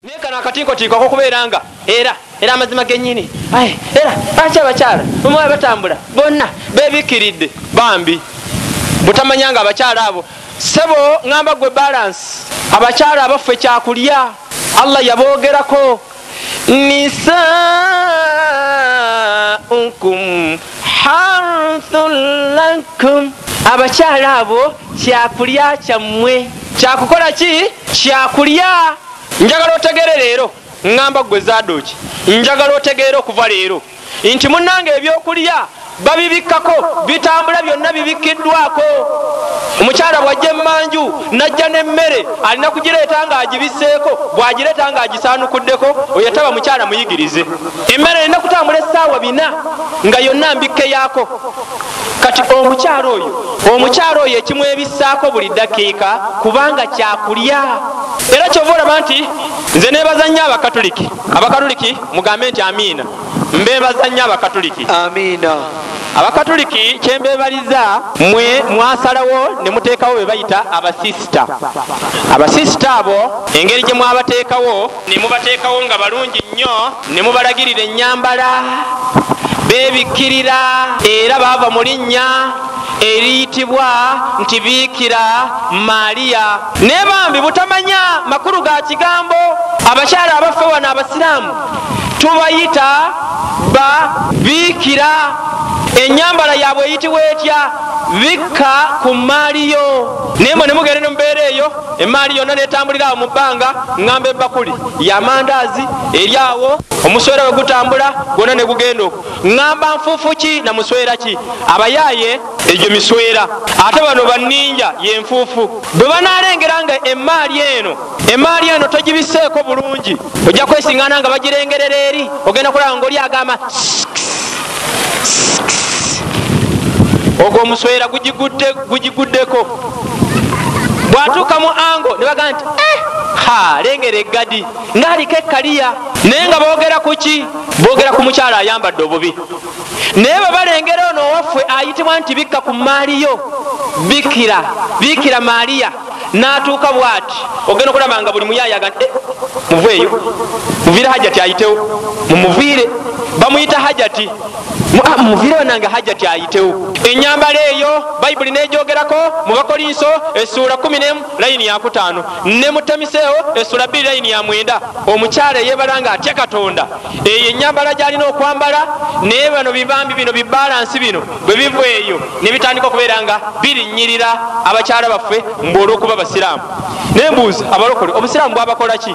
naye kano akatinkotiiko akokubeera nga era era amazima genyini aye era aki abakyala omuwala batambula bonna bebikkiridde bambi butamanya nga abakyala abo sebo ŋamba gwe balansi abakyala abaffe kyakulya allah yabogerako nisaukum harthun lakum abakyala abo kyakulya kyammwe kyakukola ki kyakulya njagala otegere leero ŋŋamba ggwe zaadooki njagala otegeere okuva leero nti munnanga ebyokulya babibikkako bitambula byonna bibikkiddwako omukyala bw'ajja emmanju n'ajja n'emmere alina kugireeta ng'agibisseeko bw'agireeta ng'agisaanukuddeko oyo taba mukyala muyigirize emmere erina kutambula essaawa bina nga yonna mbikkeyaako kati omukyalo oyo omukyalo oyo ekimwebissaako buli dakiika kubanga kyakulya era kyova olaba nti nze nebaza nnyo abakatuliki abakatuliki mugambe nti amiina mbebaza nnyo abakatuliki amiina abakatuliki kyembebaliza mwe mwasalawo ne muteekawo be bayita abasisita abasisita abo engeri gye mwabateekawo ne mubateekawo nga balungi nnyo ne mubalagirira ennyambala beebikkirira era baava mu linnya eriyitibwa nti biikira maaliya naye bambi butamanya makulu ga kigambo abakyala abaffe wano abasiraamu tubayita ba biikira enyambala yabwe eyitibwa etya bikka ku mmaali yo naye mwe ne mugende ne mubeera eyo emmaali yonna netambulira awo mu bbanga ŋŋamba ebbakuli yamandaazi eri awo omuswera we gutambula gwonna ne gugenda oku ŋŋamba nfuufu ki na muswera ki abayaaye egyo miswera ate bano banninja yenfuufu bwe banaalengera nga emmaali eno emmaali eno togibiseeko bulungi ojja kwesingana nga bagirengerera eri ogenda kulaba ngaoli agamba ogwo omuswera gugiguddeko bwatuuka mu ango ne bagamba nti eh, ha lengera eggadi ngaaliko ekkaliya naye nga boogera ku ki boogera ku mukyalo ayambadde obubi naye bwe balengera ono owaffe ayitibwa nti bikka ku maaliyo bikira bikira maaliya natuuka bwati ogenda okulaba nga buli muyayaga eh, muveeyo muviire hajati ayitewo mumuviire bamuyita hajati ah, muviire bananga hajati ayitewo enyambala eyo bayibuli negyogerako mu bakolinso esuula 1 layini yakutaano ne mutamiseewo esuula 2 layini ya mwenda omukyala eyebala nga atya katonda eyo enyambala gyalina okwambala naye bano bibambi bino bibalansi bino bwe biva eyo ne bitandika okubeera nga birinnyirira abakyala baffe mbu olw'okuba abasiraamu naye mbuuzi abalokole obusiraamu bwabakola ki